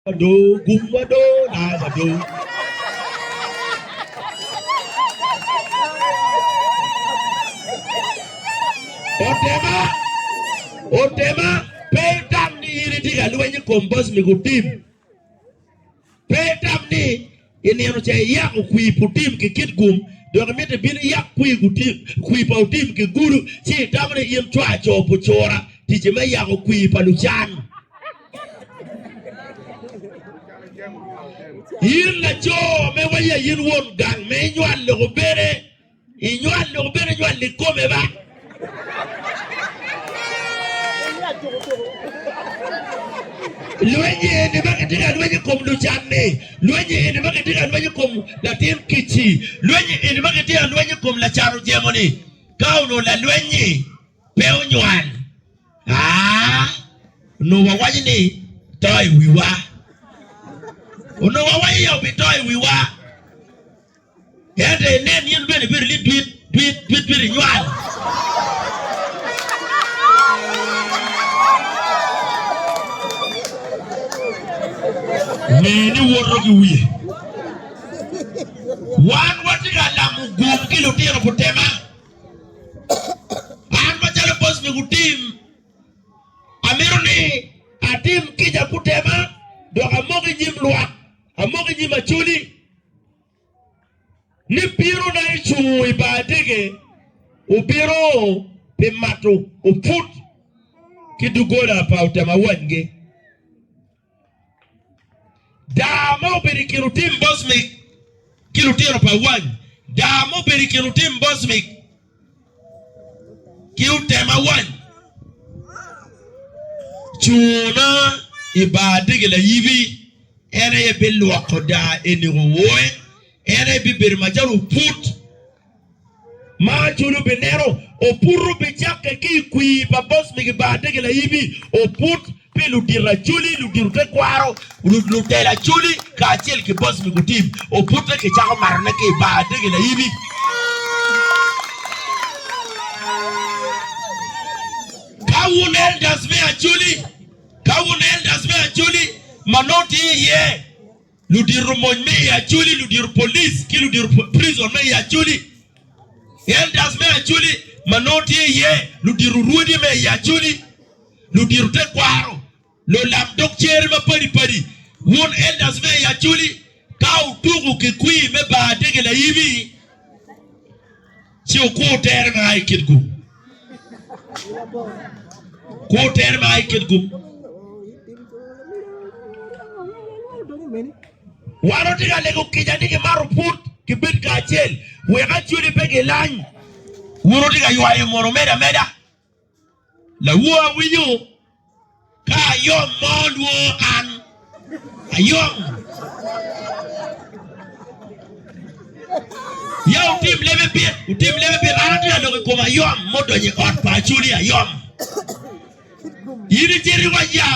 Wado gum wado na wado. Otema otema pe itam ni in itye ka lweny i kom boss me gutim pe itam ni I nino ca iyako kwir pa otim ki kit gum, dok imito ibino iyak kwir pa otim ki gudo, ci itamo ni in cwar coo pu cura ticci me yako kwir pa lucan. In lacoo me waya in won gang me inywal loko bene. Inywal dong bene nywal i kome ba. Lwenyi eni ma kitye ka lweny i kom lucanni, lwenyi eni ma kitye ka lweny i kom latin kic-ci, lwenyi eni ma kitye ka lweny i kom lacan ojemo-ni, ka onongo lalweny-nyi pe onywal, a, onongo wawaco ni to i wiwa. Onongo wawaco ni obito i wiwa. Ento inen in bene ibedo ni dit dit dit dit inywal. Ngeye ni woto ki wiye. Wan watye ka lamo gum ki lutino kutema. An macalo boc me gutim, amito ni atim kica kutema dok amok i nyim lwak, amok i nyim Acholi. ni bino na ecungo i bar adege obino pi mato oput ki dugola pa otema wanygi. Daa ma obedo i kin otim bocmik ki lutino pa wany. Daa ma obedo i kin otim bocmik. ki otema wany cuna i bar adege layibi en aye bilwoko daa eni wowoe en aye bibedo macalo oput ma cwalo bineno oput bicakke ki i kwir pa boss me bar adege layibi oput pi ludito acholi, ludito tekwaro, lutelo acholi, kacel ki boc lobo tim, obute kicako matone ki i bar adege laibi. Ka wun elders me acholi, ka wun elders me acholi ma nongo tye iye, ludito mony me i Acholi, ludito police ki ludito prison me i Acholi, elders me Acholi ma nongo tye iye, ludito rwodi me i Acholi, ludito tekwaro, lulam dog cere mapadi padi. Wun elders me i Acholi, ka wutuko ki kwir me Bar Adege Layibi, Ci wukur tere ma a i kit gum. Kur tere ma a i kit gum. Wan watye ka lego kica ni kimato put, kibed kacel, wek acwele pe gilany. Wun wutye ka ywayo mono medo ameda? Lawo awinyo ka ayom mo lwo an ayom. Ya wutim lebe pit, wutim lebe pit. An atye ka loko i kom ayom mudonyo i ot pa Acoli ayom. In icito iwac ya.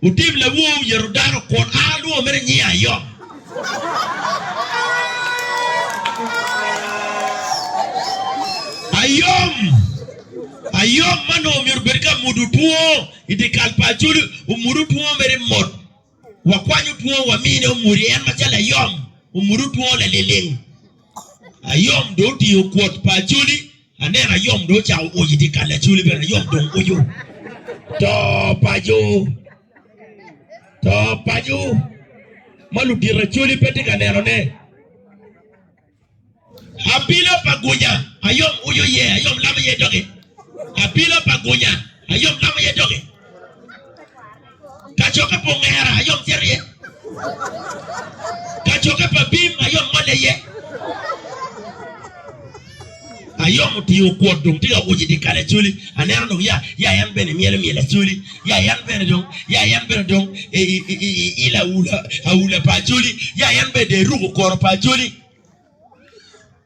Wutim lawowu yeto dano, kun a lwongo mere nyinge ayom. Ayom, ayom ma nongo myero obed ka mudo two i dye kal pa Acholi, omudo two mere i mot. Wakwanyo two wamine omudi, en macalo ayom omudo two laliling. Ayom dong otingo kwot pa Acholi. Aneno ayom dong ocako oc idye kal acoli bene ayom dong oco. To paco. To paco. Ma ludito acoli pe tye ka neno ne. Apilo pa gunya ayom oco ye ayom lamo ye doge. Apilo pa gunya ayom lamo ye doge. Kacokke pa ongera ayom cito iye, kacokke pa bim ayom ngole iye. Ayom otingo okwot dong tye ka uco i dye kal acoli. Aneno dong ya, ya en bene myelo myel acoli, ya en bene dong, ya en bene dong ilo aula, aula pa acoli, ya en bene dong eruko koro pa acoli.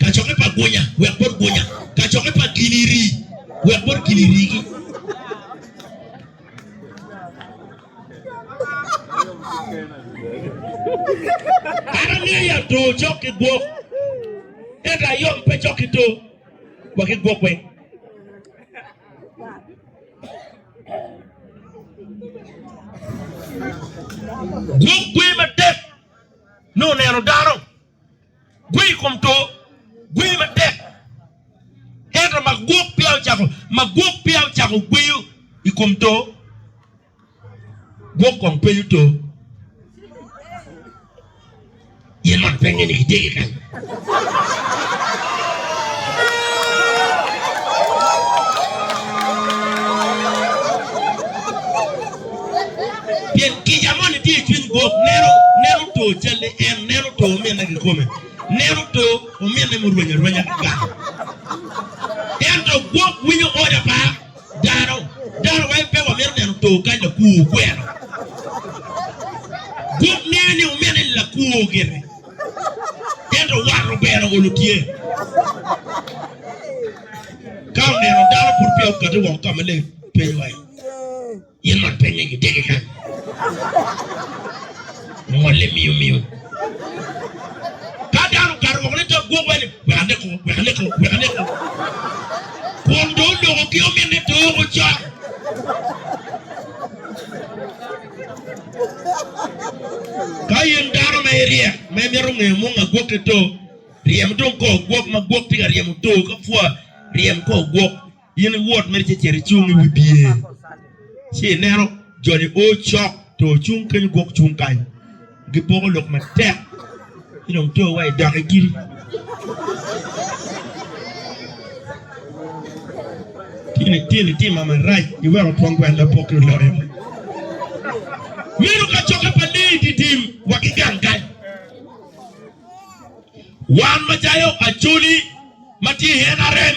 Kacokke pa gunya wek bot gunya. Kacokke pa gini rii wek bot gini rii ki. Kara niya ya to cok ki gwok. Ento ayom pe cok ki to wa ki gwok weng. Gwok gwe matek nongo neno dano. Gwe i kom to, gwe matek. Ento magwok peya ocako, magwok peya ocako gweyo i kom to, gwok kong penyo to, In mono pe inge ni kitye ki kany? Pien kica moni tye i cwiny gwok, neno, neno to calli en, neno to ominne kikome, neno to ominne murwenyo arwenya ki kaka. Ento gwok winyo oda pa dano, dano wai pe wamito neno to kany lakwor kwero. Gwok ngeyo ni ominne ni lakwor gire, ento wat obero olo tye. Ka oneno dano pud peya okati woko ka maleng piny wai. Yin mot pennye ki tegi kany. Omolle miyo miyo. Ka dano okato woko ni to gwok wene, wek aneko, wek aneko, wek aneko. Kun dong onoko ki ominne to oko con. Ka in dano ma iryek, ma imito ngeyo mung a gwokke to, ryem dong kor gwok ma gwok tye ka ryemo to ka pwa. Ryem kor gwok. In iwot mere ci icito icung i wi bye, ci ineno jo-ni o cok to cung kenyo gwok cung kany, gipoko lok matek, ci dong to wa idok i giri. Tini tini tima marac iweko twon gwel lapokki oloyo. Meno kacokke pa leyi didim wa ki gang kany. Wan macalo Acholi ma tye i NRM,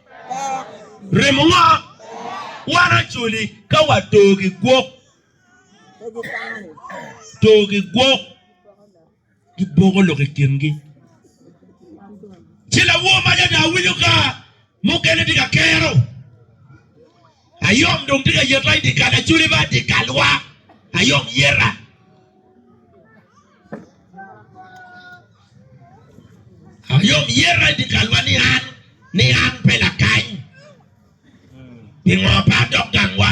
Remowa, Wan acoli ka wator ki gwok, tor ki gwok giboko lok i kingi. Ci lawomo adada winyo ka mukene tye ka kero. Ayom dong tye ka yet ma i dye kal aculi ma dye kalwa ayom yeta. Ayom yeta i dye kalwa ni an ni an pe lakany. Pingo pe adok gangwa?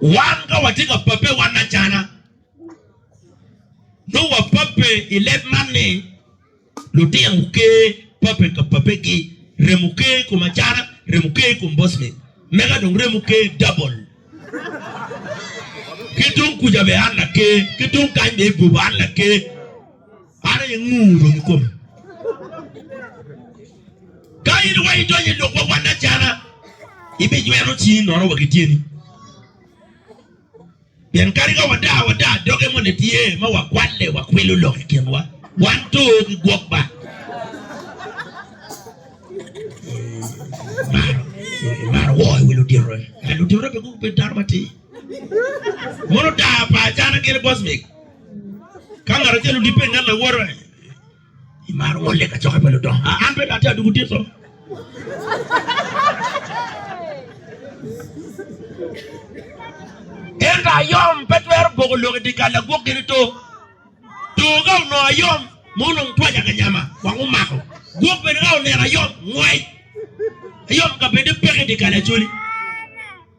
Wan ka watye ka pabbe wan acana, nongo wapabbe i leb man ni, lutino guker pabbe ka pabbegi, remo ker i kom acana, remo ker i kom bocmen, mega dong remo ker dabol. Ki tung kuca bene an laker, ki tung kany bene i goba an laker. Par aye ngur dong i kome. Ka in wa idonyo i lok ma wan acana, ibijwero cingi nono wa ki tyeni. Pien kadi ka wadaa, wadaa doge moni tye ma wakwalle, wakwilo lok i kinwa, wan to ki gwok ba. Imaro woo i wi ludito, ento ludito pe dano matir. Mono daa pa acana gire bocmik. Ka ngat acel odibbe inget lawote, imaro won lek acokke pa ludongo. A, an pe do atye aduku tito. Ento ayom pe twero boko lok i dye kal lagwok gin ito. Tur ka onongo ayom, ma onongo twac akanyama, wang omako. Gwok bene ka oneno ayom, ngwec. Ayom ka bene peke i dye kal acoli.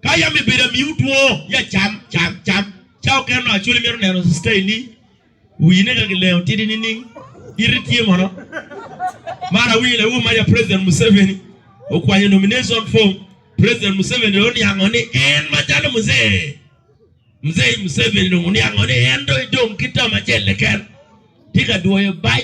Ka yam ibedo amiwu two, ya cam, cam, cam. Ca okene onongo Acholi mito neno cista i ning. Wine ka kilengo tidi nining? Iti tye mono? Mar awinyo lawobi maca President Museveni okwanyo nomination form. President Museveni oniango ni en macalo Mzee Mzei Museveni dong oniango ni en dong idong ki term acel keken. Tye ka dwoyo bac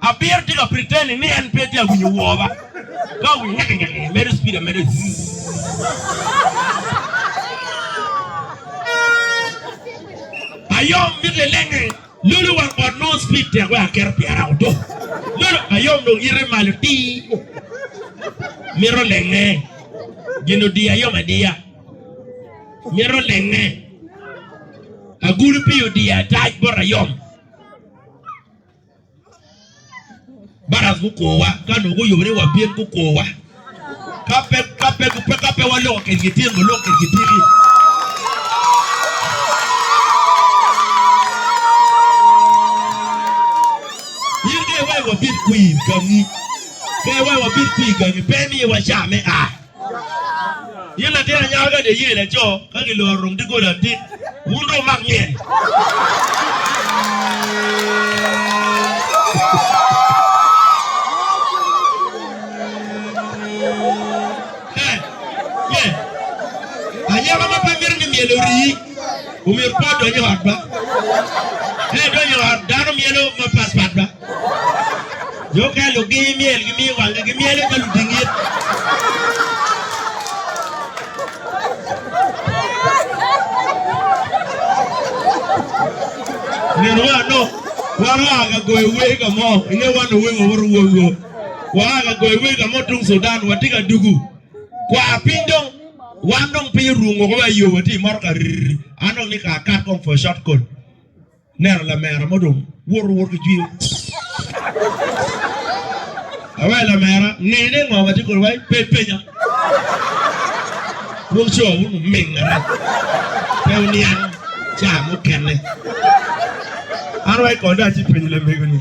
Abiro tika pretend ni en pe tye awinyo woo ba ka awinyo nyaka nyaka ni medo speed amedo zzzzz. Ayom mit lelenge lulu wang ot nongo speed tek wek aketo pyera oto. Lulu ayom dong ite malo ti mito lenge gin odi ayom adiya mito lenge agulu pi odi atac bot ayom. Bara gukwowa ka nongo guyobe ni wabin gukwowa ka pe ka pe ka pe waloko kitgi tin waloko kitgi tiki. In ka iwaco wabin kwir gangi, ka iwaco wabin kwir gangi pe imiwa ca me a. Yin latin anyaka kadi iye laco ka giloro rung digoli atit wun dong wumak myel. Anyaka ma pe mito ni myel orii omyero pe odony i ot ba. Ka idonyo i ot dano myelo mapatpat ba. Jo ka luggi myel gimiyo wangi gi myel ka luding it. Nino wa no, wan oa ka goyo wer ka mo, inge wan owe wa woro wol wol. Waa ka goyo wer ka mo tung Sudan, watye ka dugu. Kwa piny dong, wan dong piny orung woko wa iyo watye i motoka rrr, an dong ni ka akat kong for short call. Neno lamera mo dong woto wot ki jwinyo. Awe lamera ngeyo ni ngo matye kodi wai pe penya. Dwong co un oming arac. Pe uniang ca mukene. An wai kodi dong atye penyo lamego ni.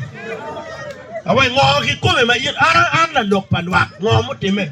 Awe ngo kikome ma in an an lalok pa lwak ngo mutime.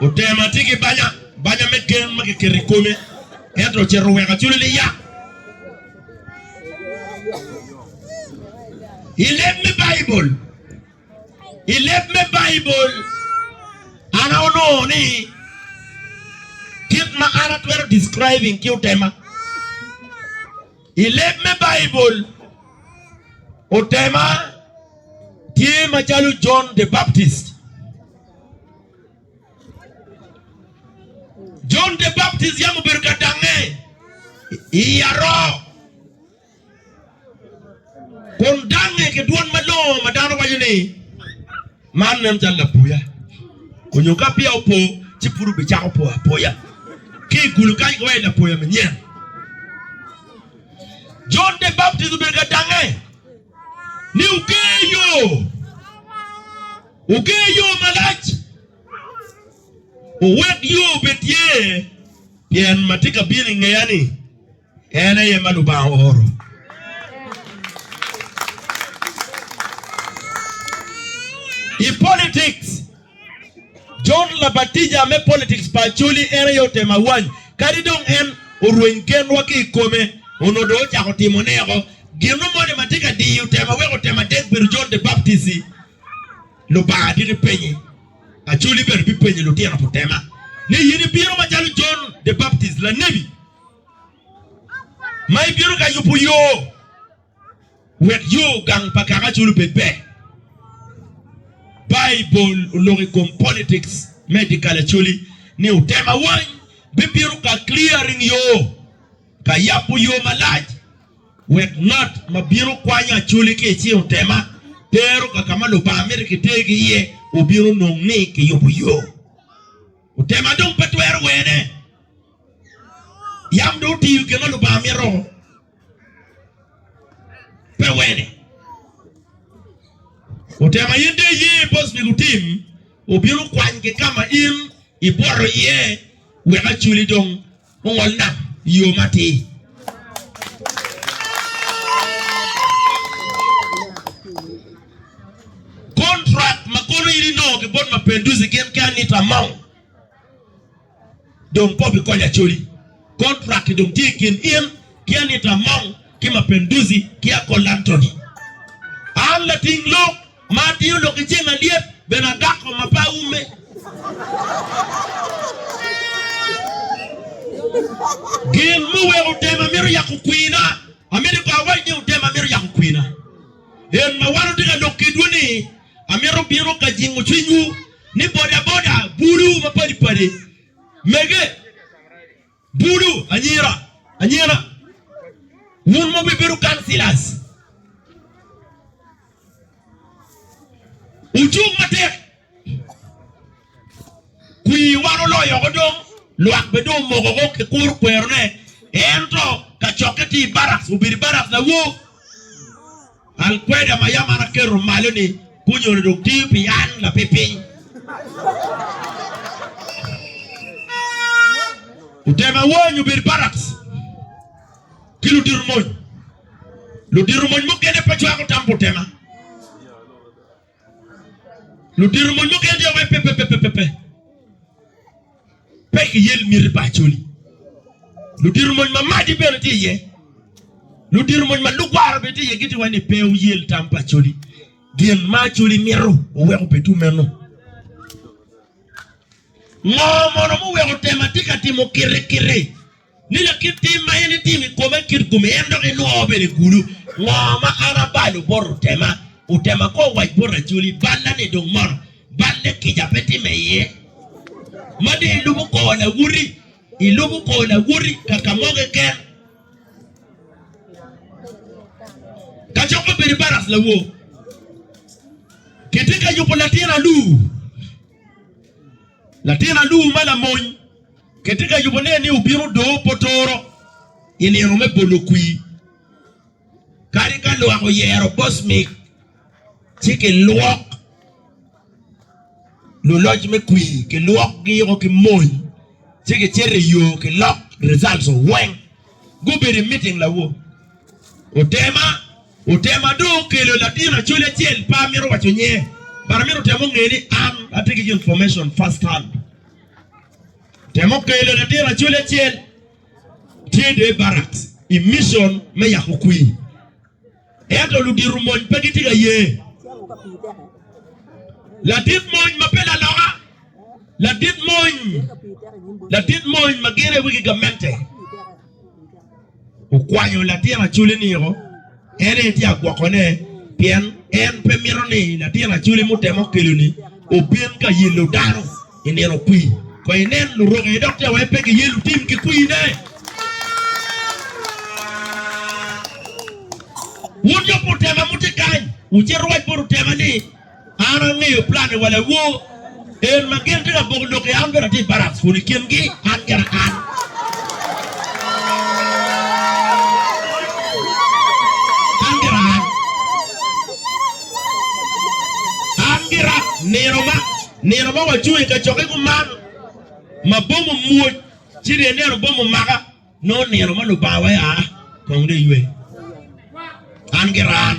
Otema tye ki banya, banya me gen ma kiketo i kome, ento ocito oweko acule ni ya. I leb me Baibul, i leb me Baibul, an onongo ni kit ma an atwero describing ki otema. I leb me Baibul, otema tye macalo John the Baptist. John the Baptist yam obedo ka dangnge i aroo kun dangnge ki dwon malongo ma dano waco ni, Man nen calo lapoya onyo ka peya opo ci pud obicako po apoya ki i kulu kany ki wai lapoya manyen. Jon the Baptist obedo ka dange ni oger yo, oger yo malac, owek yo obed tye, pien ma tye ka bino i ngeya-ni. En aye ma Lubanga ooro. I politics, John labatija me politics pa Acholi en aye otemo awany. Kadi dong en orweny genwa ki i kome, onongo dong ocako timo neko. Gino moni ma tye ka diyo tema weko tema adek bedo John the Baptist-ci. Lubanga dit ipenye. Acholi bene bipenyo lutino putema ni, In ibino macalo John the Baptist, lanebi? ma ibino ka yubo yo wek yo gang pa kaka acol obed ber. Baibul oloko i kom politics me dye kal acoli ni otem awany bibino ka clearing yo, ka yabo yo malac wek ngat ma bino kwanyo acoli ki i cing otema tero ka ka ma Lubanga mito kitergi iye obino nong ni kiyubo yo. Otema dong pe twero wene. Yam dong otiyo gin ma Lubanga mito. Pe wene. Otema in de iye bos pi gutim, obino kwany ki ka ma in ibworo iye wek aculi dong ongol nam i yo matir. Kontrak ma kono in inongo ki bot Mapenduzi gin ki anita mo. Dong kobo i kony Acholi, kontrak-ki dong tye i kin in ki Anita Among ki Mapinduzi ki Akol Anthony. An lating lok ma atiyo lok i ceng alyet bene adako ma pe aume. Gin muweko tema mito yako kwina, amito kono awac ni tema mito yako kwina. En ma wan watye ka lok ki dwe-ni Amito bino ka jingo cwinywu ni bodaboda bulu mapadi padi, mege bulu anyira anyira, wun ma wibedo councillors, wucung matek. Kwir wan oloyo oko dong, lwak be dong omoko oko ki kur kwerone. Ento kacokke tye i Baraks, obedo i Baraks nawo. Alkweda ma yam an aketo malo-ni gunyuto dong tiyo pi an lapipiny. Otemo awony obedo i Baraks ki ludito mony. Ludito mony mukene pe cwako tam pi otema. Ludito ma lwaki adya waci pe, pe, pe, pe, pe, pe. Pe kiyel miti pa Acholi. Ludito mony ma madi bene tye iye. Ludito mony ma lugwara bene tye iye giti waci ni pe wuyel tam pa Acholi. Gin ma Acholi mito oweko pe tu meno. Ngo mono muweko tema tye ka timo kiti kiti? Ni lakit tim ma en etimo i kome kit kome, en dok enwoo bene kulu. Ngo ma an abalo bot otema? Otema ko owac bot Acholi, Balla ni dong mono. Balle kica pe timme iye. Ma dong ilubo kor lawoti, ilubo kor lawoti ka ka mo keken. Kacok ma bedo baras lawok. Kitye ka yubo latin alur. Latin aluu ma lamony kitye ka yubo ne ni obino doo potoro i nino me bolo kwii. Kadi ka lwak oyero Bosmik ci ki lwok luloc me kwii ki lwok gi o ki mony ci ki cito i yoo ki lok results weng gubedo i meeting lawo. Otema, Otema dong okelo latin Acholi acel pe amito waco nyinge but amito temo nge ni an atye ki information first hand. Otema okelo latin Acholi acel tye dong i barracks i mission me yako kwi ento ludito mony pe gitye ka ye. Ladit mony ma pe laloka, ladit mony, ladit mony ma gire wi gigamente. okwanyo latin aculi niko en aye tye agwokone pien en pe mito ni latin aculi mutemo keloni obin ka yelo dano i nino kwir. Kong inen luroki aye dok tye wai pe ki yelo tim ki kwine. Wun jo pa Otema mutye kany, wucit ruwac bot Otema ni An angeyo planni wa lawo, en ma gin tye ka boko lok i an bene atye i barracks kun i kin gi an gena an. An gena an. An gira nino ma nino ma wacung i kacokke kuman ma bom omwoc ci ryeni neno bom omaka. Nongo nino ma Lubanga wee aa kong dong eywe an ki ran.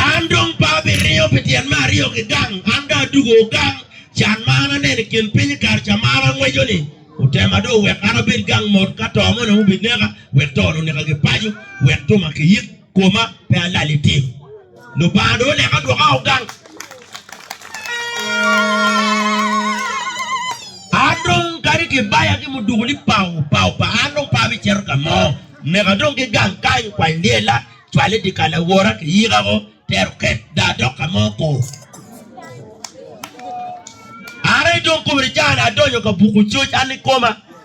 An dong pe abiriyo pi tyen me aryo ki gang, an dong adugo gang. Can ma an aneno i kin piny i kare ca ma an angweco-ni otema dong oweko an abed gang mot ka to mo nongo obineka, wek to-ni oneka ki paco, wek tuma kiyik. Koma pe alal i tim. Lubanga dong oneka dwoka o gang. An dong kadi kibaya ki muduku ni pau pau pa an dong pe abicito ka mo. Meka dong ki gang kany kwany lyela, cwale dikal awora ki yika ko tero ket da adok ka mo ko. Are dong kome ni caa ni adonyo ka buku coc an ni koma.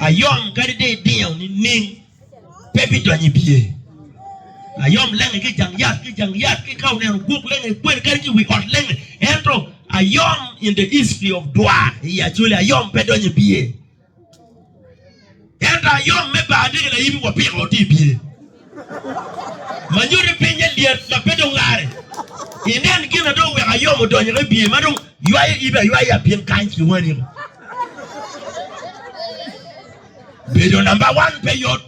Ayom kadi dong idingo nining, pe bidonyo i biye. Ayom lenge ki i jang yat, ki i jang yat, ki ka oneno guk lenge i kwer kadi ki i wi ot lenge. Ento ayom in the history of dwa i Acholi, ayom pe donyo i biye. Ento ayom me baa tye ki laibi wa piko tye i biye. ma nyuto pinye lyet ma pe dong lare. Inen gin ma dong weko ayom odonyo ki i biye ma dong ywayo ibi aywaya piny kany ki wani. Bedo namba wan pe yot,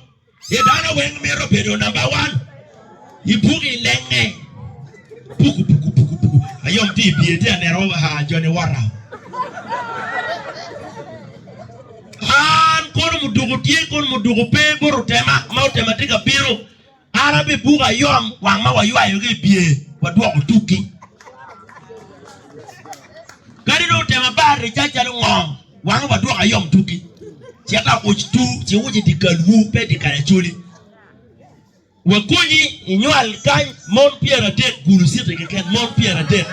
ci dano weng mito bedo namba wan. I buk i nenge puku puku puku puku ayom tye i biye tye aneno jo ni wota. Man kono muduku tye kun muduku pe bot otema ma otema tye ka bino. An abe buka ayom wang ma waywayo ki i bye wadwoko tukki. Kadi dong otema bar ricac calo ngo wange wadwoko ayom tukki. Cita uc tu ci uc i dye kalwu pe i dye kare acoli. Wakonyi inywal kany mon pyeradek, gulu citi keken, mon pyeradek.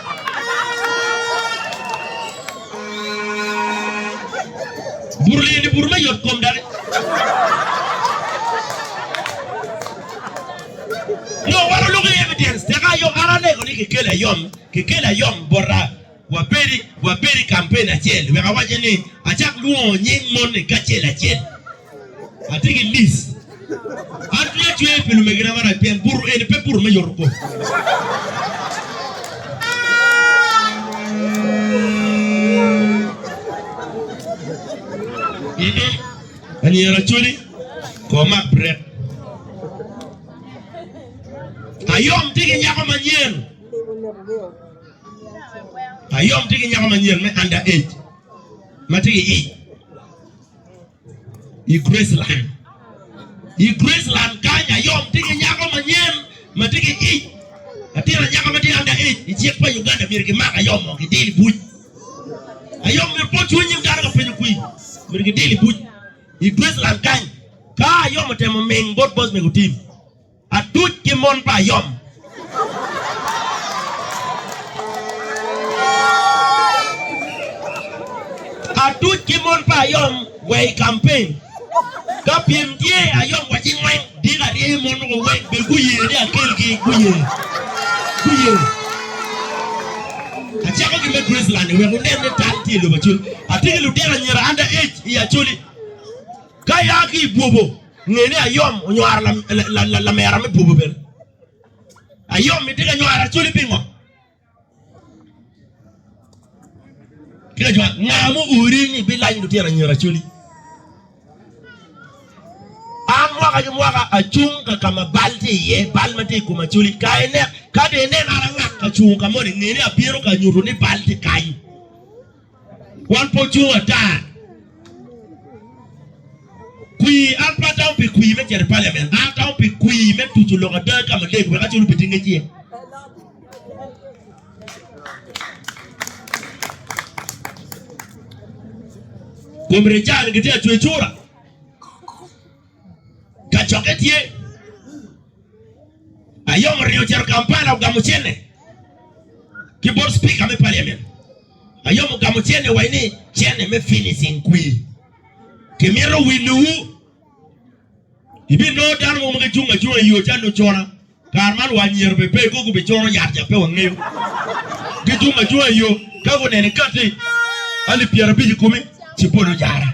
Buto liyeni buto me yot kom daki. Nyo waro lok iye me dyens, teka ayom, an anego ni kekeli ayom, kekeli ayom bota. Wabedo, wabedo i kampen acel, wek awacce ni, acak lwongo nying moni kacel acel. Atye ki lis. An pe acweyo pi lumegina marac pien buto eni pe buto me yoto kom. Anyira Acoli kor mak bret. Ayom tye ki nyako manyen. Ayom tye ki nyako manyen me under age ma tye ki i i Graceland. I Graceland kany Ayom tye ki nyako manyen ma tye ki i latin anyaka ma tye under age i cik pa Uganda myero gimak Ayom mo gidil i buc. Ayom myero pot cwiny nyim dano ka penyo kwi myero gidil i buc i Graceland kany. Ka Ayom otemo ming bot boss mego tim. Atuc ki mon pa ayom. Atuc ki mon pa ayom wa i campaign. Ka pyem tye, ayom wa ci ngweng. Dika arye mon mogo weng be guye ni akel gi. Guye. Guye. Acako ki me Graceland ni wek wunen ni tal tye i lobo Acholi. Atye ki lutino anyira under age i Acholi. Ka ia ki i bwobo, nge ni ayom onywaro lamera me bwobo bene. Ayom itye ka nywaro Acoli pingo? Tye ka jwayo nga ma oori ni bilany lutino anyira Acoli. An mwaka ki mwaka acung ka ka ma bal tye iye, bal ma tye i kom Acoli. Ka ine, ka dong ineno an angak ka cungo ka moni, nge ni abino ka nyuto ni bal tye kany. Wan pe ocung ata. Kwir, an pe atamo pi kwir me cito i paliament. An atamo pi kwir me tuco lok ada ki ka maleng wek acel obed ki ngec iye. Kom Richard gitye ka cwe cura. Kacokke tye. Ayom oringo ocito Kampala ogamo cente ki bot Spika me paliament. Ayom ogamo cene wa ni cene me finishing kwi ki mito wilo wu i bi nongo dano mo magi cung acunga i yo calo cona kare man wa anyira be pe koko bi coro yat ja pe wa ngeyo gi cung acunga i yo ka gu nene kati alip pyera bic i kumi ci polo jara.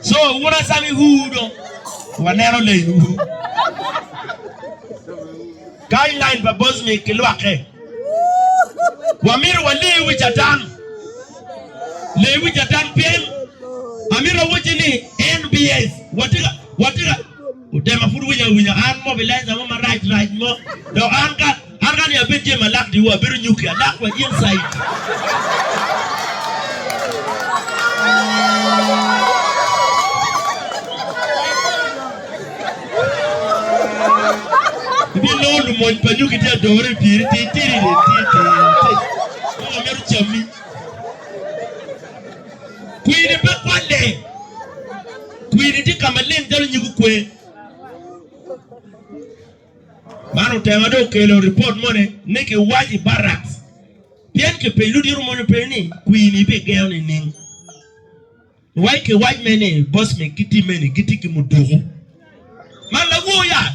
So wun asamiwu do waneno lainwu. Kany lain pa Bosnic ki lwakke. Wamito wale wi Catan. Le wi Catan pien amito awacci ni NBS watye ka watye ka Otema pud winyo awinya. An mobilizer mo marac rac mo. Dok an ka an ka ni abed Jay Malak di wa abedo nyuki alak wa in saidi. Ibinongo lumony pa nyuki tye adore i piri ti tiri ti ti ti. Kong amito cammi. Kwiri pe kwalle. Kwiri tye ka maleng calo nyig okwe. Man otema dong okelo ripot mone ni kiwac i barak pien kipenyo ludito moni openyo ni kwini ibigengo nining? Wa i kiwac me ni Bosmic ki timme-ni gitye ki muduku. Man lawoya!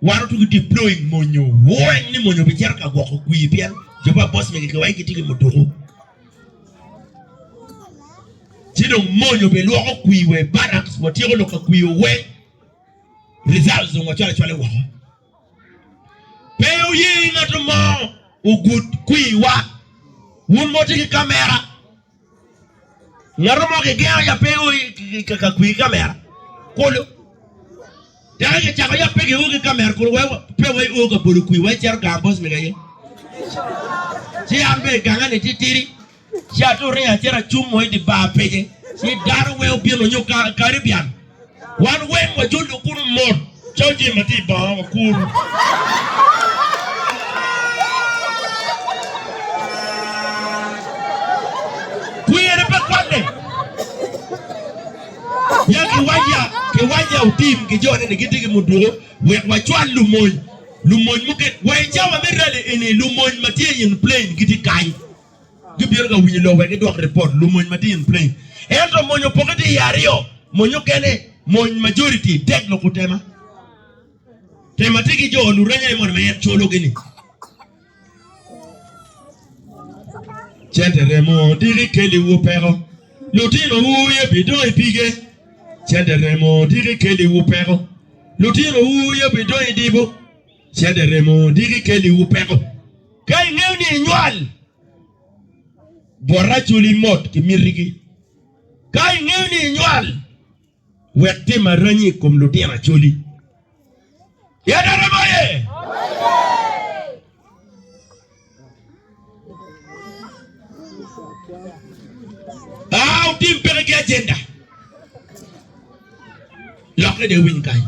Wan otugo deploying monyo. Weng ni monyo bi cero ka gwoko kwi pien Jehovah boss mege kiwai gitye ki muduku. Ci dong monyo bi lwoko kwi we barracks watyeko lok ka kwi oweng. Results dong wacwale cwale woko. Pe wuye ngat mo ogud kwi wa. Wun mo tye ki kamera. Ngato mo kigengo ya pe ka kwi ki kamera kulu teke kicako ya pe kiuo ki kamera kulu wek pe wa iuo ka bolo kwi wa icito gang boss mega aye ci an be gange ni titidi ci ature acita acung mo idi bar pece ci dano weng obino nyo Caribbean Wan weng wajolo kunu mot calo jami ma tye i banga wakuru. Kwene pe kwanne. Ya kiwajja, kiwajja otim ki jone ni gitye ki muduku wek wacwal lumony, lumony mukene. Wa i cawa me rali eni lumony ma tye in plain gitye kany. Gibino ka winyo lok wek gidwok ripot lumony ma tye in play. Ento mony opoke tye i aryo, mony okene, mony majority, dek loko tema. Tema tye ki jo luranya ni mono ma en colo gi ni. Cente remo diki keli wu peko. Lutino wu ye bi dong i pige. Cente remo diki keli wu peko. Lutino wu ye bi dong i dibo. Cente remo diki keliwu peko. Ka ingeyo ni inywal, bwot aculi mot ki mitigi. Ka ingeyo ni inywal, wek tim aranyi i kom lutino aculi. Cente remo aye! Ah, otim peke ki ajenda. Lokke de winy kany.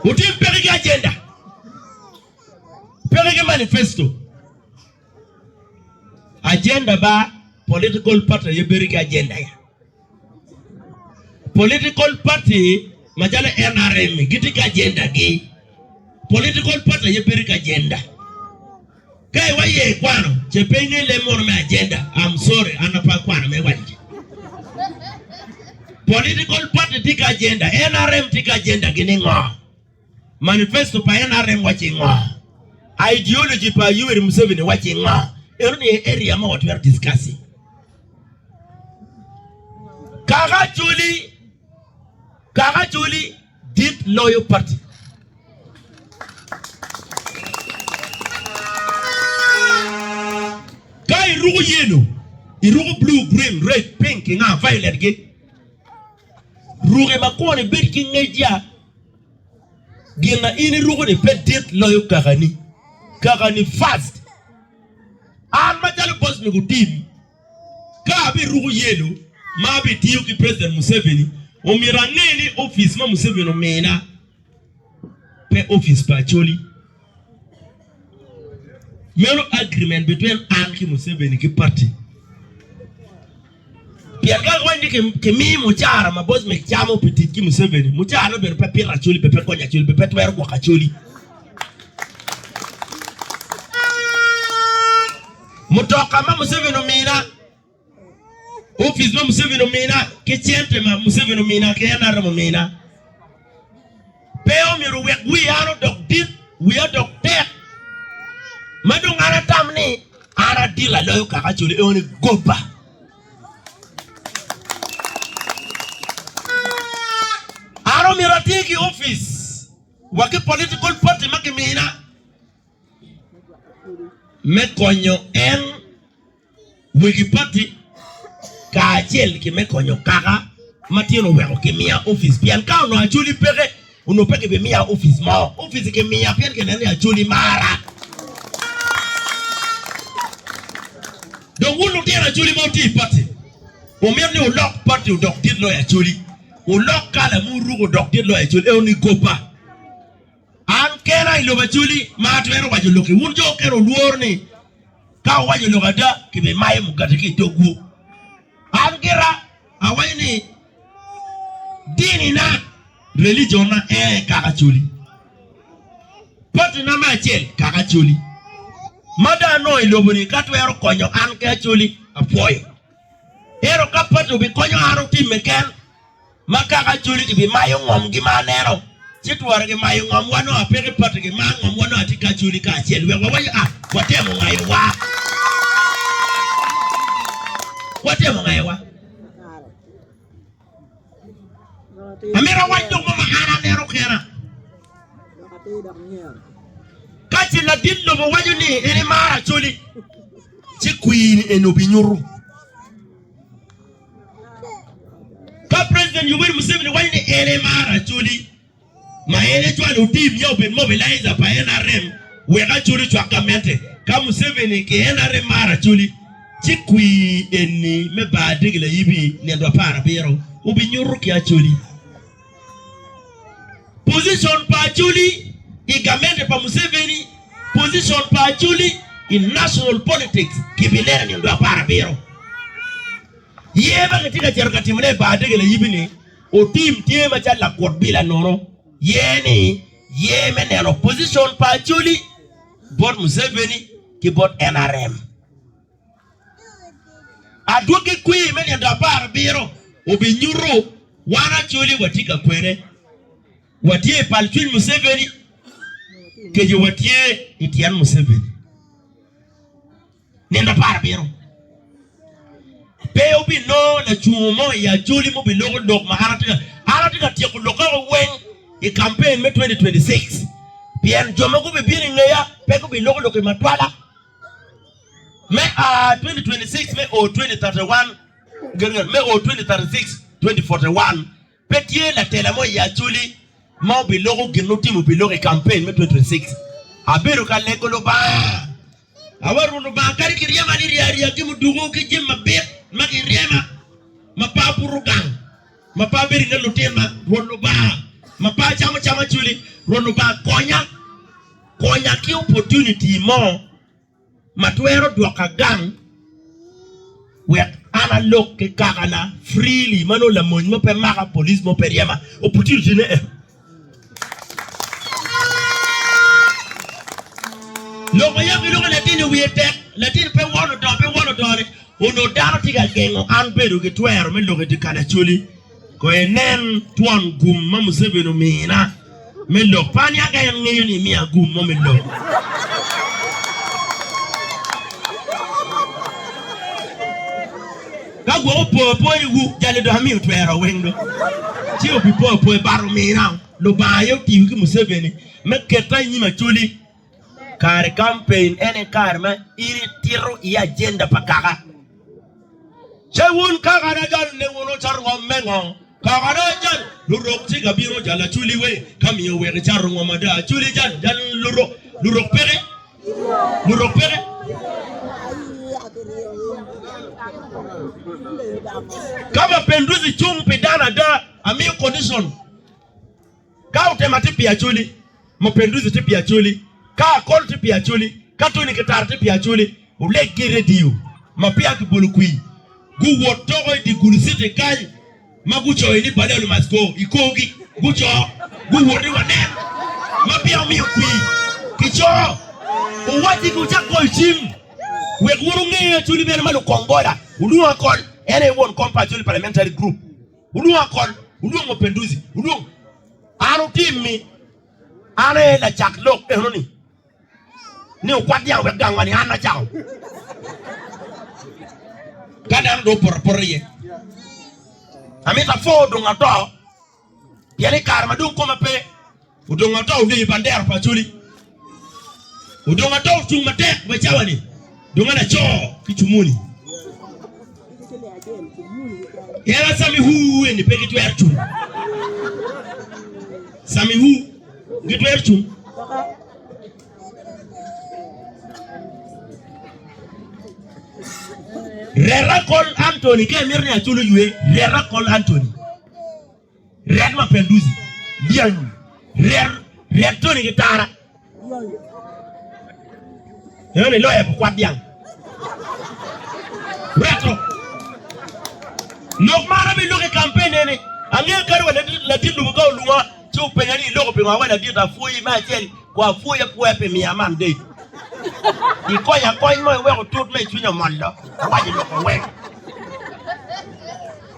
Otim peke ki ajenda. Peke ki manifesto. Ajenda ba political party aye bedo ki ajenda ya. Political party macalo NRM gitye ki ajendagi. Political party aye bedo ki ajenda. Ka iwa iye ikwano ce pe inge leb mono me ajenda, I'm sorry an ape akwano me waco ci. Political party tye ki ajenda, NRM tye ki ajendagi ni ngo? Manifesto pa nrm wacci ngo? Ideology pa Yoweri Museveni wacci ngo? Eno ni e area ma watwero discuss-i. Kaka Acholi, Kaka Acholi dit loyo party. Ka iruko yellow, iruko blue, green, red, pink, ki nga, violet gi. Ruke ma kwone bed ki ngec yat. Gin ma in iruko-ni pe dit loyo kakani. Kakani first. An macalo boss me gu team, ka abiruko yelo ma abitiyo ki President Museveni, omyero ange ni office ma Museveni omina pe office pa Acholi. Meno agreement between an ki Museveni ki party. Pien ka kawany ni kimi mucara ma boss mek camo pi tic ki Museveni, mucara no bene pe pito acoli, be pe konyo acoli, be pe twero gwoko acoli. Mutoka ma Museveni omina, Office ma Museveni omina ki cente ma Museveni omina ki en aromo mina. Pe omyero wek wi an odok dit, wi adok tek. Ma dong an atam ni an adil aloyo kaka coli eo ni goba. An omyero ati ki office wa ki political party ma kimina me konyo en Wegi pati kacel ki me konyo kaka matino oweko kimiya opic pien ka onongo Acholi peke, onongo pe kibimiya opic mo. Opic kimiya pien kineno ni Acholi mara. Dong wun lutino Acholi ma wutye i pati, wumito ni wulok pati odok dit loyo Acholi, wulok kala ma wuruko odok dit loyo Acholi, ento ni goba. An kena i lobo acoli ma atwero waco lokki. Wun jo okene wulworo ni ka wuwaco lok ada, kibimayo mugati ki i dogwu. An gira awaco ni dinina, religionna, ee kaka acoli. Patina me acel kaka acoli. Ma dong anongo i lobo-ni ka twero konyo an ki acoli, apwoyo. Ento ka pati obikonyo an otimme ken, Ma kaka Acholi gibimayo ngomgi ma aneno, ci twara gimayo ngom wa nongo apeke pati gimar ngom wa nongo atye ki Acholi kacel wek wawaco a watemo ngayo wa. Watemo ngayo wa. Amito awac dok mo ma an aneno kena. Ka ci ladit lobo waco ni en imaro Acholi, ci kwiri eni obinyutu. Ka President Yoweri Museveni waco ni en aye mar Acholi, ma en ecwalo otim ya obed mobilizer pa NRM wek Acholi ocwak gamente. Ka Museveni ki NRM mar Acholi, ci kwir eni me bar dege layibi nino apar abiro obinyuto ki Acholi. Position pa Acholi i gamente pa Museveni, Position pa Acholi i national politics kibi lelo nino dwe apar abiro. Yer ma kitye ka cito ka timone i bar dege layibi ni otim tye macalo lakut bila nono. Yer ni yer me neno position pa Acholi bot Museveni ki bot NRM. Adwogi kwir me nino apar abiro obinyuto wan Acholi watye ka kwene, watye i pal cwiny Museveni, keco watye i tyen Museveni. Nino apar abiro pe obinongo lacungo mo i Acholi ma obiloko lok ma an atye ka an atye ka tyeko lok oko weng i kampen me 2026 pien jo ma gubibino i ngeya pe gubiloko lok i matwala. me a 2026 me o 2031 me o 2036 2041 pe tye latela mo i Acholi ma obiloko gin otimo biloko i campaign me 2026 abedo ka lego Lubanga awaru Lubanga kadi ki ryema ni rya rya ki muduku ki jim ma bit ma ki ryema ma pa butu gang ma pa bedo nge lutin ma Rwot Lubanga ma pa camo cam Acholi Rwot Lubanga konya konya ki opportunity mo ma twero dwoka gang wek an alok ki kakana freely ma nongo lamony mo pe maka, police mo pe ryema. Opportunity ne en. Lok ma yam giloko latin-ni wiye tek, latin pe won odoo pe won odoo-ni, onongo dano tye ka gengo an bedo ki twero me lok i dye kal Acholi. Kono inen twon gum ma Museveni omina me lok. Pe aniaka en ngeyo ni imiya gum mo me lok. Ka gwok opo apoya i wu, jali dok amiyo twero weng do. Ci obipo apoya bata omina. Lubanga aye otiyo ki Museveni me keta i nyim Acholi. Kare campaign ene kare ma in itito iye agenda pa kaka. Ce wun kaka na jal ne wun oca rwom me ngo? Kaka na jal lurok ci ka bino jal aculi we ka miyo wek ica rungo mada aculi jal jal lurok lurok peke lurok peke. Kama penduzi cung pi dano ada amiyo condition. Ka otema tye pi Acholi, Mapenduzi tye pi Acholi, ka Akol tye pi Acholi, ka Tony Kitara tye pi Acholi, oleg ki redio ma peya kibolo kwir, guwot doko i dye Gulu City kany ma gucoyo ni Bale Oli Must Go i korgi, guco, guwot ni wanen ma peya omiyo kwir kico. Owacci gucak goyo cim wek wun wunge Acholi bene ma lukong boda, wulwong Akol, en aye won kom pa Acholi Parliamentary Group. Wulwonga kor, wulwong Wapenduzi, wulwong an otimmi, an aye lacak lok enoni, ni okwat dyang wek gang wani, an acako. Ka dano dong opoto apota iye, amito apor dong ato, pien i kare ma dong koma pe. Odong ata obedo i bandera pa Acholi. Odong ata ocung matek ma cawa-ni dong en aco ki cumuni. En a Samihu eni pe gitwero cung. Samihu gitwero cung. Rera kol Anthony ka imito ni Acholi oywe, rera kol Anthony. Ret ma pe ducu, lyangi, ret, ret toni ki tara. Eno ni loya pu kwat dyang. Reto. Lok mara bi lok i kampen ene. Angeyo kadi wa ladit lubo ka olunga ci openya ni iloko pingo awe ladit apwoyi me acel wa apwoyi apwoya pi miya man date. Ikonya kony mo iweko tut me icwinya omollo. Awaco loko weng.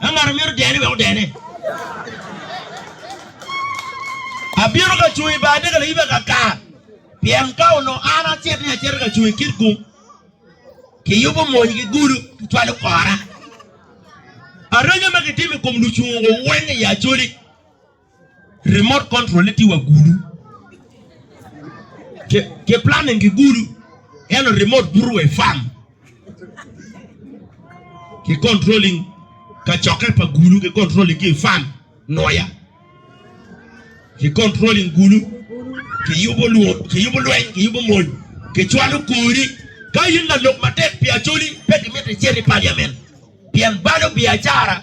Ka ngat omito dene, wek odene. Abino ka cung i bade ka layiba kaka, pien ka onongo an acit ni acito ka cung i kit gung, kiyubo mony ki gudo, kicwalo kora. Areja ma kitimo i kom lucungo weng i Acholi. Remote control ne tye wa gulu. Ke, ke planning ki gulu. Eno remote buto wa i farm. Ki controlling ka cokke pa gulu, ki controlling ki i farm noya. Ki controlling gulu, ki yubo lwo, ki yubo lweny, ki yubo mony, ki cwalo kori. Ka in lalok matek pi acholi, pe ki miti icit i parliament. Pien balo biacara.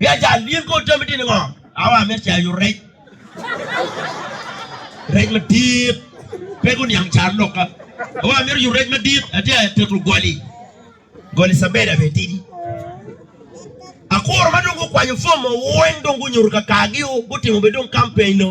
Biacal, in kor jami dini ngo? Awa amito cayo rec. Rec madit. Pe guniang car loka. Awa amito yo rec madit. Ati a teto goli. Goli sabeda be tidi. Akuru ma dong gukwanyo fom mo weng dong gunyuto kakagi o. Gutimo be dong campaign o.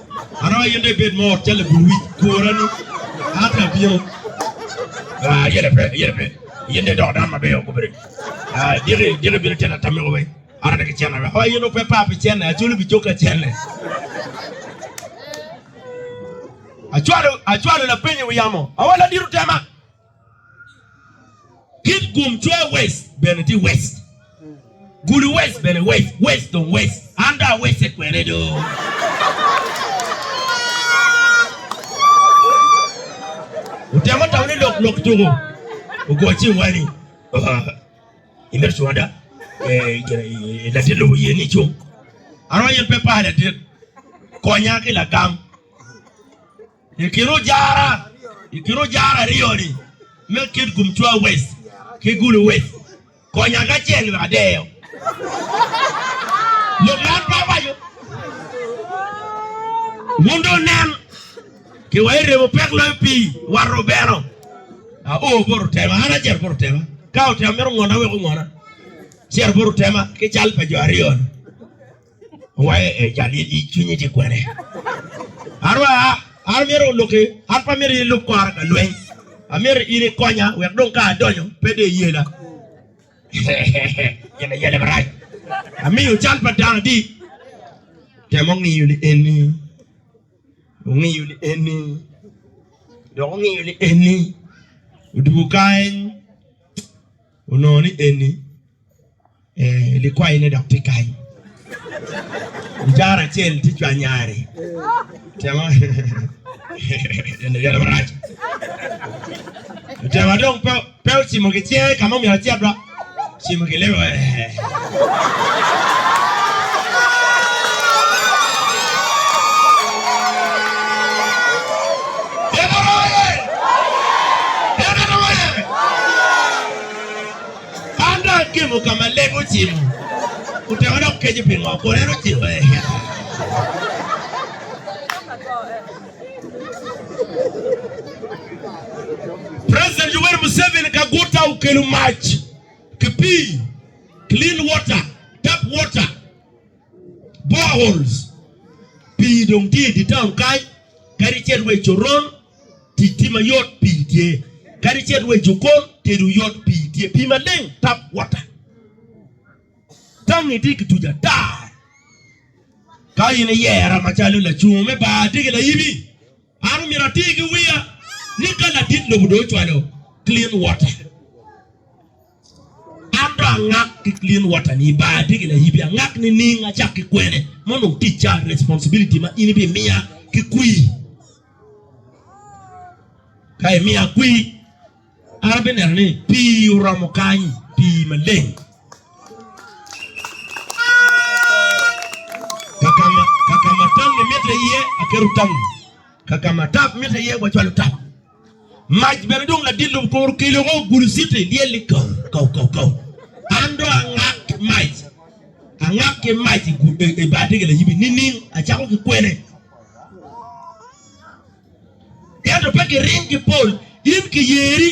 Aroyo in dong ibed mot cal labul wic kura ni Adler bino. Ah, yene pe, yene pe. Yin de dok dan mabeyo gubedo. Ah, diki, diki bino tena tamiko weng. Ara de ki cene weng. Oh, yin ope pa pi cene, acholo bi coka cene. Achwalo, achwalo lapenyo wi yamo. Awa ladit otema. Kit gum cwer wec bene tye wec. Gulu wec bene wec. Wec dong wec. An dong awecce kwene do. Utemo tamo ni lok lok tuko. Ogo cing wa ni. Imedo cunga da. Latin lobo yen ni cung. Ano yen pe pala dit. Konya ki lagam. I kin ojara i kin ojara aryo ni me kit Gumtwa West ki Gulu West konya ki acel wek adeyo lok ma an pe awaco. Wun dong wunen ki wa iremo pek loyo pii war rubeno. Aoo bot otema an acer bot otema ka otema mito ngona wek ongona cer bot otema ki cal pa jo aryo ni. Waye e jal i cwinyi tye kwene. Arwa an myero oluki, an pa myero ilub kora ka lweny. Amyero in ikonya wek dong ka adonyo pe de iyela. Yela yela marac. Amiyo cal pa dano adi. Temo ngiyo li eni. Ongiyo li eni. Dok ongiyo li eni. Odugo kany. Onongo ni eni. Ee, likwayone dok tye kany. Ojara acel tye cwanyare. Otemo eno yale marac. Otemo dong pe pe ocimo ki cinge ka ma omyero ocit ba. Cimo ki lebe. Eno roye. Eno roye. An dong agemo ka ma leb ocimo, otemo dok keco pi ngo, kun en ociko ee. President Yoweri Museveni ka guta okelo mac ki pii, clean water, tap water, boreholes. Pii dong tye i di town kany, kadi cel wa i Coron, Tic tye ma yot, pii tye. Kadi icit wa i jokon, tedo yot, pii tye. Pii maleng, tap water. Tangi tye kituco ata. Ka in iyera macalo lacungo me bar tye ki layibi, an omyero atir ki wiya ni ka ladit lobo dong ocwalo clean water, Ento angak ki clean water ni bar tye gin ahibi angak nining acak ki kwene ma onongo ticca responsibility ma in ibi miya ki kwir ka imiya kwir an abi neno ni pii oromo kany pii maleng kakama tangi mitte iye aketo tangi kakama tap mitte iye wacwalo tap. Mac bene dong ladit lum kor kelo ko gulu citi lyel ni kaw kaw kaw kaw. An do angak ki mac. Angak ki mac i gul i bar tege la yibi nining acako ki kwene. Ento pe ki ring ki pol in ki yeri.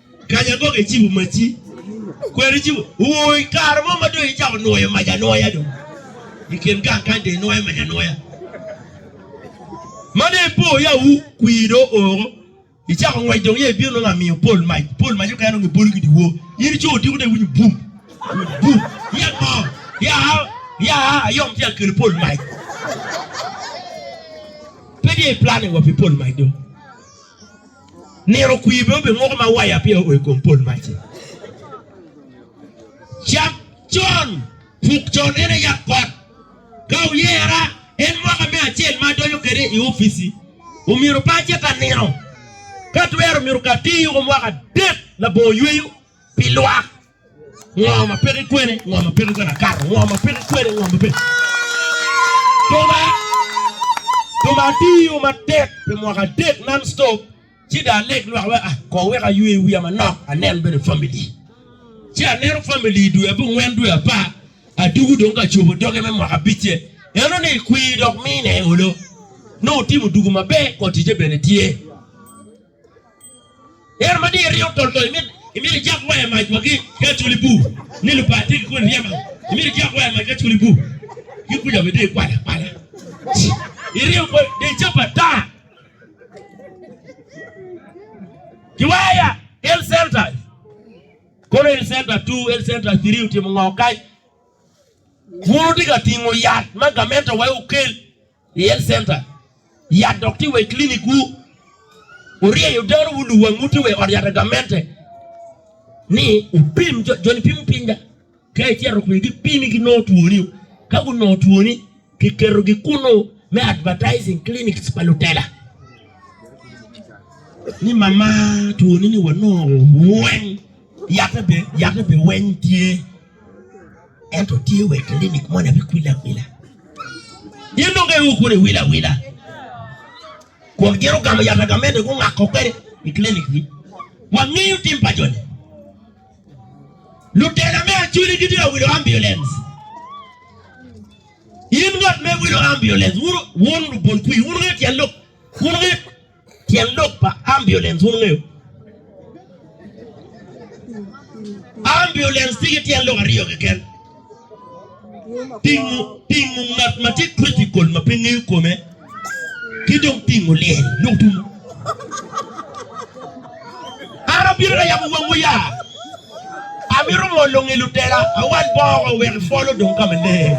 Kanya gwok ecibo maci. Kweri ecibo. Wuu i kare mo ma dong icako nwoyo mac anwoya dong. I kin gang kany dong inwoyo mac anwoya. Ma dong ipo ya wu kwir dong oo. Icako ngwec dong ya ibino nongo amiyo pol mac. Pol mac okene nongo ibolo ki diwor. In ico odiko dong iwinyo bum. Bum. Yat mo. Ya a, ya a, ayom tye ka kelo pol mac. Pe tye i planning wa pi pol mac dong. Nino okwir bene obedo woko ma waya peya oo i kom pol mac-ci. Cak con, puk con en aye yat kot. Ka wuyera, en mwaka me acel ma adonyo kwede i opic-ci. Omyero pe acit ka nino. Ka twero, myero kati yuko mwaka adek labongo yweyo pi lwak. Ngo ma peko ikwene, ngo ma peko ikwene akato, ngo ma peko ikwene, ngo ma peko. Tuma, tuma atiyo matek pi mwaka adek non stop, ci da aleg lwak wa, ah, ko wek aywe wiya manok, anen bene family. Ci aneno family i dwe abongwen, dwe apar, atugu dong ka cobo doge me mwaka abicce. Eno ni kwir dok mine olo. Nongo timo dugu maber, ko ticce bene tye. Ento ma diyo ringo tol tol, imito ijak waya mac wa ki acoli bu ni lupa tye ki kodi ryema, imito ijak waya mac ki acoli bu ki kuca bene diyo ikwala kwala iringo kodi diyo cap ata ki waya health centers kono health center two health center three otimo ngo kany wun wutye ka tingo yat ma gamente wai okel I health center yat dok tye wa i klinikwu. Wuryeyo dano wuluwu anguti wa i ot yat pa gamente ni wupim jo, joni pimo piny da. Ka icito kwiyo gipimi ginongo twoni. Ka gunongo twoni giketogi kunu me advertising clinics pa lutela ni mama twoni ni wanongo weng. Yat me biweny tye, ento tye wek kilinik moni abikwile akwila. Gin dong ka iwoko ni wila wila, kun gin ogamo yat agamene gungako kwede i kilinikgi. Wangeyo tim pa joni. Lutela me Acholi gitye ka wilo ambulance. In ngat me wilo ambulance, wun lubolkwi, wun nge tyen lok, wun nge Tyen lok pa ambulance wun wungeyo? Ambulance tye ki tyen lok aryo keken. Tingo tingo ngat ma tye critical ma pe ngeyo kome ki dong tingo lyel lok dumo. An abino ka yabo wangwu ya. Amito ngolo nge lutela, awal bongo wek ipol odong ka maleng.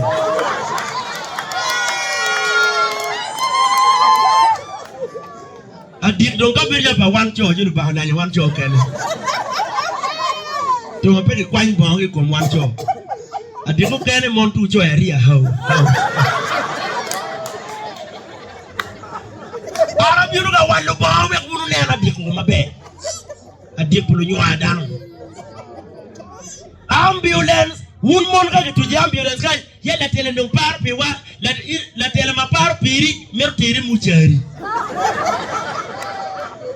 Adit dong ka bedo pa wan co, ci Lubanga olanyo wan co kene. Tung ape kikwany bongo ki kom wan co. Adit mukene mon tu coya ri ahau. An abino ka wal Lubanga wek wun wunen adyeko maber, adyek pi lunywar dano. Ambulance, wun mon ka gituco i ambulance kany, ya latela dong paro piwa, latela ma paro piri mito teri mucari.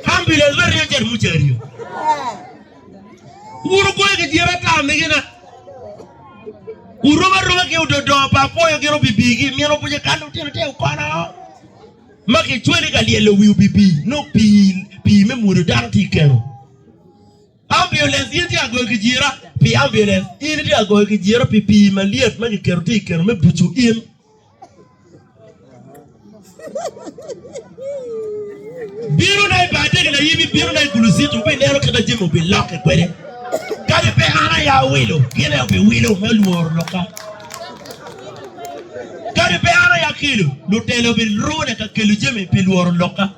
Ambulance me ryo cito mucari-o. Wun wupoyo ki tyen ata migina? Wurom aroma ki ododo pa apwoyo gin obibi ki min obuce kan lutino tye okono ma kicweli ka lyelo wi obibi nongo pii pii me mwodo dano tye keno. Ambulance in tye agoyo ki jira pi ambulance in tye agoyo ki jira pi pii malyet ma kiketo tye keno me bucu in. Birona i Bardege na Yibi, birona i Gulucito, wubineno kit ma jami obilokke kwede. Kadi pe an aye awilo, gin aye obiwilo me lworo lokka. Kadi pe an aye akelo, lutela obilwona ka kelo jami pi lworo lokka.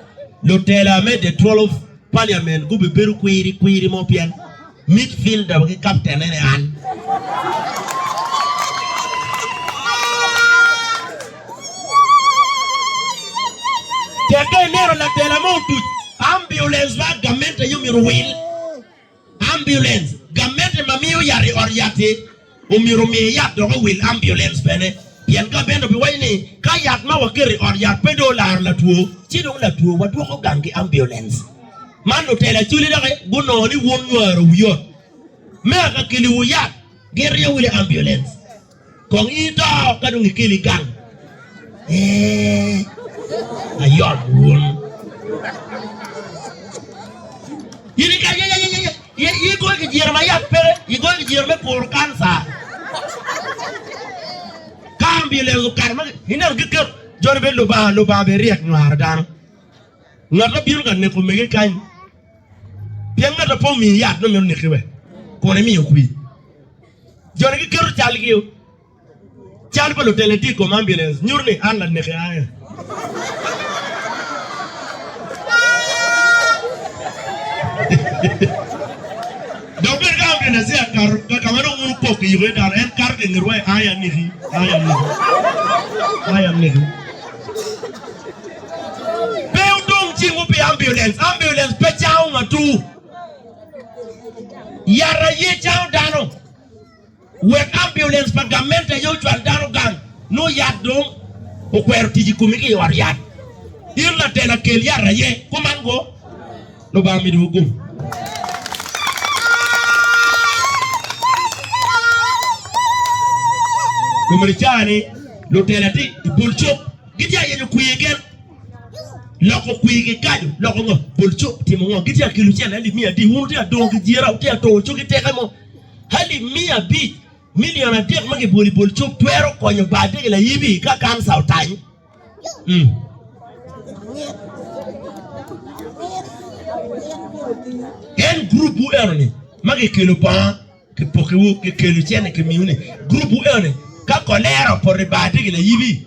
Lutela me The Twelve Parliament gubibedo kwiri kwiri mo pien Midfielder wa ki captain ene an. Tek ka ineno latela mo otuc ambulance ba gamente aye omyero owil. Ambulance gamente ma miyo yat i ot yat-ti Omyero omiye yat dok owil ambulens bene pien ka bene obiwaco ni ka yat ma waketo i ot yat pe dong olaro latwo ci dong latwo wadwoko gang ki ambulens. Man lutela Acholi dok gunongo ni wun nywaro wi ot me aka keliwu yat gin ryeo wili ambulens kong in ito ka dong ikeli gang. Eeh ayom wun. I goyo kijiro ma yat pe, i goyo kijiro me kuro kanca. Ka omyelo lego okato ma ineno giketo joni be Lubanga, Lubanga be ryek nywaro dano. Ngat ma bino ka neko mege kany. Pien ngat ma pe omiyo yat nongo mito neke be. Kun emiyo kwi. Joni giketo calgi. Cal pa lutela i tye i kom ambulance nyuto ni an laneki aye. Dok bene ka ambulance ya kato ka ka ma dong un wukok kiyuko iye dano, en kato ka i ngetwa iye, aye aneki, aye aneki, aye aneki. Pe wudong cingwu pi ambulance, ambulance pe cango ngatu, yat aye cango dano. Wek ambulance pa gamente aye ocwal dano gang, nongo yat dong okwero tic i komi ki i ot yat. In latela kel yat aye, kuman go. Lubanga omidowu gumo. Kome ni cani lutela tye i bul cuk gitye a yenyo kwi keken loko kwi ki kajo loko ngo bul cuk timo ngo gitye a kelo cene ni miya di un wutye a dongo ki jira wutye a to cogi teke mo Alip miya abic, milion adek ma kibolo i bol cuk twero konyo baa dege laibi ka kanca otany. Mm. En grupwu eno-ni ma kikelo bongo kipokiwu, kikelo cene kimiwu-ni, grupwu eno-ni ka kolera opoto i baa dege laibi,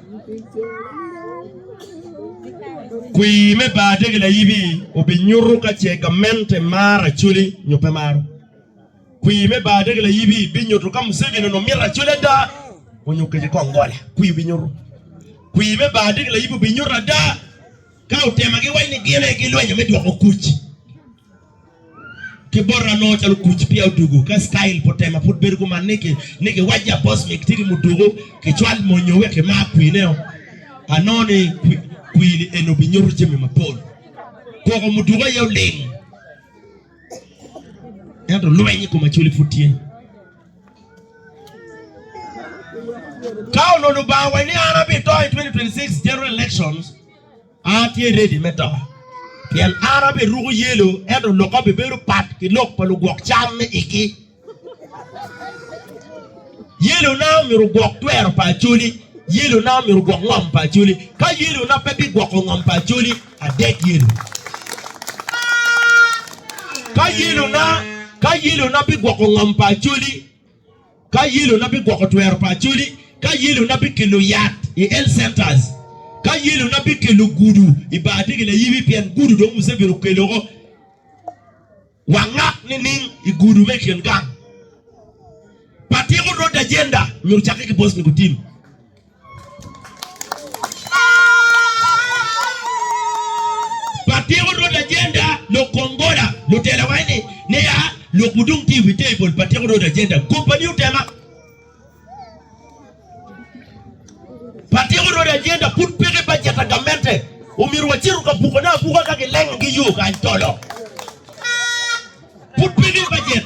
Kwi me bade ki layibi obinyuto ka ce gamente maro Acholi nyo pe maro. Kwi me bade ki layibi binyuto ka Museveni onongo mito Acholi ada onyo kece kong gole. Kwi obinyuto. Kwi me bade ki layibi obinyuto ada ka otema giwaco ni gin aye gilwenyo me dwoko kuc. ki bota nongo calo kuc pia odugu ka style po tema pud bedo kuman ni ki ni ki wajja boss mi ti ki mudugu ki cwal monyo wek ki mar kwine o ano ni kwini eno bi nyuto jami mapol koko mudugu aye oling ento lweny i kom acholi pud tye ka onono banga wa ni an abi to i 2026 general elections Atye redi me to, pien an abiruko yelo, ento loka bibedo pat ki lok pa lugwok cam me igi. Yelona myero ogwok twero pa Acholi, yelona myero ogwok ngom pa Acholi. Ka yelona pe bigwoko ngom pa Acholi, adek yelo. Ka yelona, ka yelona bigwoko ngom pa Acholi, Ka yelo na bigwoko twero pa Acholi, ka yelo na bikelo yat i health centers, ka yelo na bikelo gudu i bar tye gin ayibi pien gudu dong Museveni okeloo wangak nining i gudu me kin gang. Pa tiko road agenda myero cakke ki Bosnia ku tim. Patiko Rwod Ajenda, Lok Kom Gola, Lutela wayne ne ya, lok wudong tye i wi table, Patiko Rwod Ajenda, Company otema. Patiko Rwod Ajenda, Pud peke bajet a gamente, omyero wacito ka buko ne abuka ka gileng gi yo kany tolo. Pud peke bajet.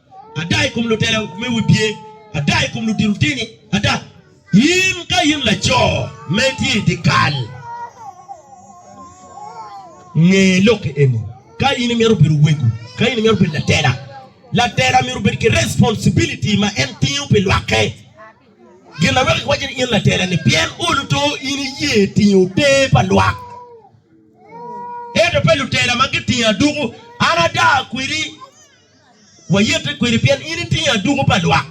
ada i kom lutela me wi pye, ada i kom ludito tini, ada in ka in laco ma itye i dyekal, nge lok eni, ka in imito bedo wego, ka in imito bedo latela, latela myero obed ki responsibility ma en tingo pi lwakke. Gin ma weko kiwaco ni in latela-ni pien olo to in iye tingo te pa lwak. Ento pe lutela ma gitingo aduku, an ada kwedi. Wayette kwede pien in itingo aduku pa lwak,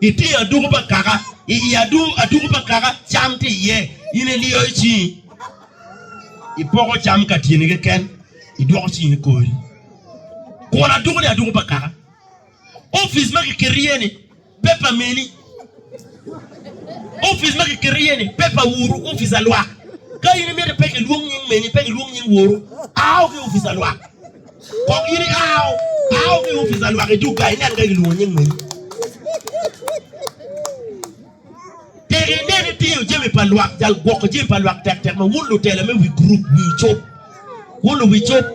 itingo aduku pa kaka, i i aduku pa kaka cam tye iye. In iliyo cingi, ipoko cam ka tyeni keken, idwoko cingi i kori. Kun aduku-ni aduku pa kaka. Opic ma kiketo iye-ni. Paper meni? Opic ma ki keto iye ni paper woru opic alwak. Ka in imito pe ki lwong nying meni, pe ki lwong nying woru, ao ki opic alwak. Kok in ika ao, ao ki opic alwak i duga inen ka ki lwongo nying meni. Tek inen itiyo jami pa lwak, jal gwoko jami pa lwak tek tek ma wun lutela me wi gurup wiu cop. Wun luwicub,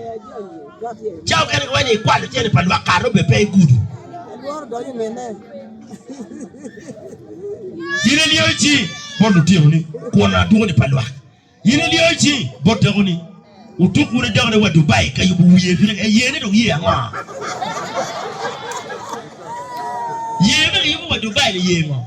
cawa mukene giwaco ni ikwa lucene pa lwak kare obedo pe igudo. In iliyo cingi bot lutinoni kun adwogoni pa lwak. In iliyo cingi bot dakoni. Otuk wun idokone wa Dubai ka yubo wiye bino ka yene dong ye ango? Ye ma kiyubo wa Dubai ni ye ngo?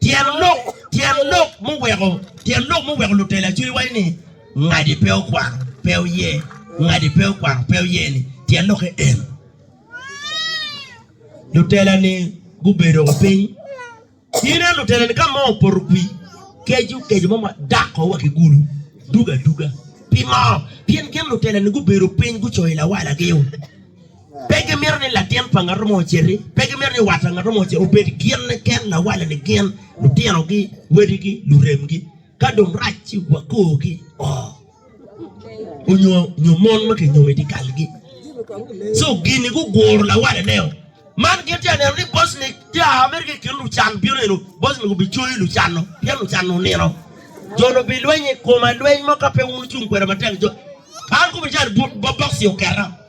Tyen lok tyen lok muweko tyen lok muweko lutele acwiny waco ni ngadi pe okwano pe oye ngadi pe okwano pe oye ni tyen lokke en lutela ni gubedo wa piny ine lutela ni ka mo opoto kwi keco keco mo ma dako wa ki gulu duga duga pi mo pien gin lutela ni gubedo piny gucoyo lawala gi Pe gimito ni latin pa ngat mo ociti, pe gimito ni wat pa ngat mo ociti, obed gin keken, lawalani gin, lutinogi, wadigi, luremgi, ka dong rac ci wakorgi oo, nyo mon ma kinyomo i dyekalgi. Co gini guguro lawalaneo. Man gin tye ka neno ni Bocni tye a mere ki i kin lucan bino eno, Bocni gubicoyo lucan-nu pien lucan-nu nino. Jo-nu bilweny i koma lweny mo ka pe wun wucung kweda matek. An kobo ni cani bokci oketa.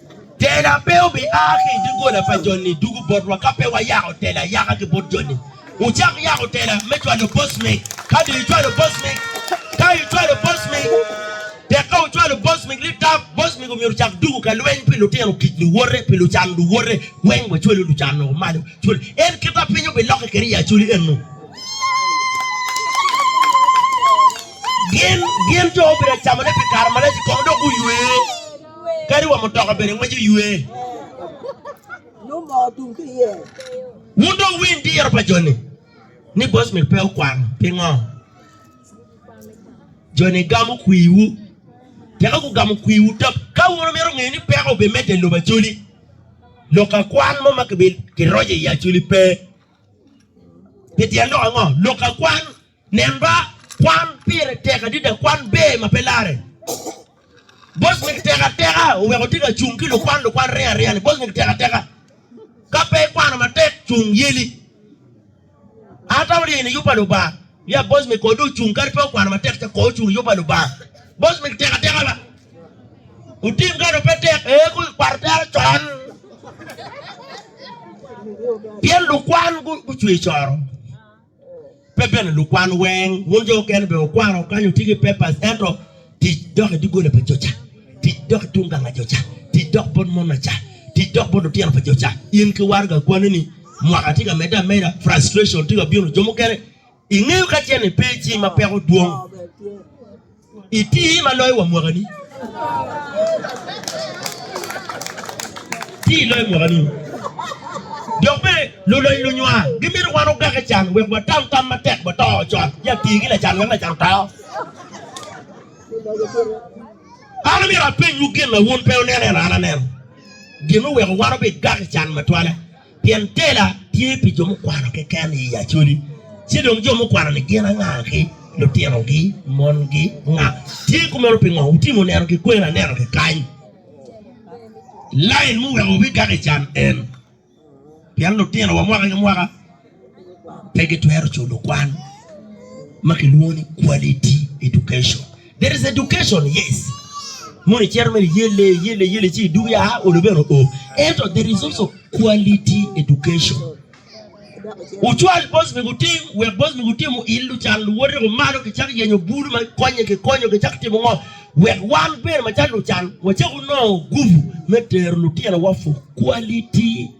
Tela pe obia ki i doggola pa joni dugu botwa ka pe wayako tela ayaka ki bot joni. Wucak yako tela me cwalo bocmik. Ka dong icwalo bocmik, ka icwalo bocmik, tek ka wucwalo bocmik ni tap, bocmik omyero ocak dugu ka lweny pi lutino tic luwote, pi lucan luwote, weng wacwelu lucan woko malo. Cwal en kit ma piny obilokke kwede i Acholi eno. Gin, gin jo obin acamone pi kare malac i kome dok guywe. Kadi wa mutoka bene ngweco ywe. Wun dong winy diro pa joni ni Bosmith pe okwano. Pingo? Joni gamo kwiwu. Tika gugamo kwiwu tam? Ka wun wumito ngeyo ni peko obimedde i lobo Acholi, lok akwan mo ma kiroco iye Acholi pe. Pi tyen lok ango? Lok akwan Nen ba, kwan pire tek adida, kwan ber ma pe larre. Bosnick tek ateka oweko tye ka cung ki lukwan lukwan ringo aringa ni Bosnick tek ateka ka pe ikwano matek cung yeli an atamo lye ni yupa lubanga ya Bosnick kodi ocung kadi pe okwano matek ca koo ocung yupa lubanga Bosnick tek ateka ba utim kano pe tek ee ku kwato tero con pien lukwan gucwe coro Pe bene lukwan weng, wun jo okene bene wukwano wukanyo tye ki papers, ento tic dok i doggola pa joca, tic dok i tung ganga joca, tic dok bot mon aca, tic dok bot lutino pa joca. In ki waraga akwani ni mwaka tye ka medde ameda, frustration tye ka bino, jo mukene ingeyo kacel ni pe icima peko dwong. Iti ma loyo wa mwaka ni. Iti loyo mwaka ni. Dok bene luloc lunywa gimito wan ogake can wek watam tam matek wa to con. Ya ti ki lacan wek lacan oto. An amito apenywu gin ma wun pe wuneno eno an aneno. Gin muweko wan obi gake can matwale. Pien tela tye pi jo mukwano keken i Acholi, ci dong jo mukwano-ni gin anga-ki? Lutinogi, mongi, nga? Tye kumeno pingo? Wutimo neno ki kwer anena kekany. Lain muweko wubigak i can en, pien lutinowa mwaka ki mwaka pe gitwero culo kwan ma kilwongo ni Quality Education. There is education, yes. Mono icito mere iyelle, iyelle, iyelle ci idug ya olo bene oo. Ento there is also quality education. Ucwal bos mi gutim, wek bos mi gutim uillu can luwote ko malo ki cak yenyo bulu ma konye ki konyo ki cak timo ngo. Wek wan bene ma cal lucan wacak unongo gubu me tero lutino wa for quality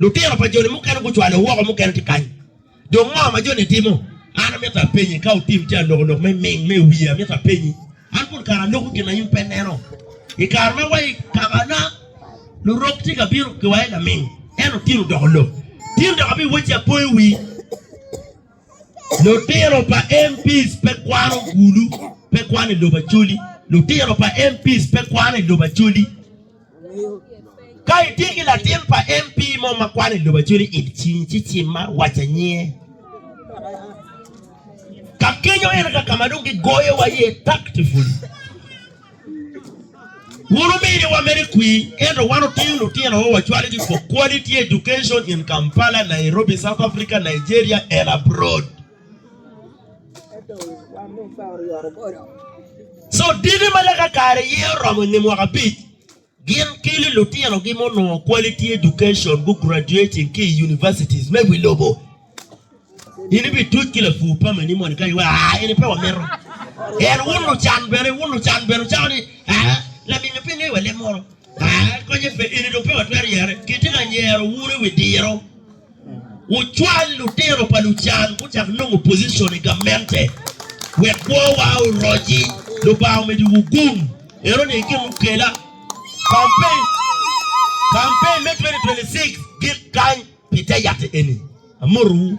Lutino pa joni mukene gucwale woko, mukene tye kany. Dong ngo ma joni timo? An amito apenyi, ka otim tye anokonok me ming me wiye, amito apenyi, an pol kare aloko gin ma in pe ineno. I kare ma wa i kabana, lurok tye ka bino ki wa i laming, ento tin odoko lok. Tin dok abiwocci apoyo wii, lutino pa MPs pe kwano gulu, pe kwano i lobo Acholi, lutino pa MPs pe kwano i lobo Acholi. Ka itye ki latin pa MP mo ma kwan i lobo acweli it cing ci cimma waca nyinge. Ka kenyo ene ka kama dong gi goyo wa ye tactfully. Wun omini wa mere kwi ento wan oting lutino wa wacwali gi for quality education in Kampala, Nairobi, South Africa, Nigeria and abroad. Co diki ma lake kare aye oromo i nge mwaka abic gin kelo lutinogi ma onongo quality education gu graduating ki i universities me wi lobo. In ibituc ki lapur pa meni moni kany iwaco aa eni pe wamito. En wun lucan bene wun lucan bene wucako ni aa laminyo pe ngeyo wa leb moro aa konye pe eni dong pe watwero yere. Kitye ka nyero wun i wi diro. Wucwal lutino pa lucan gucak nongo pozicon i gamente wek kwowa oroci. Lubanga omedowu gum. Eno ni i kin lukela, campaign campaign me 2026 gik kany pi te yat eni. Amotowu.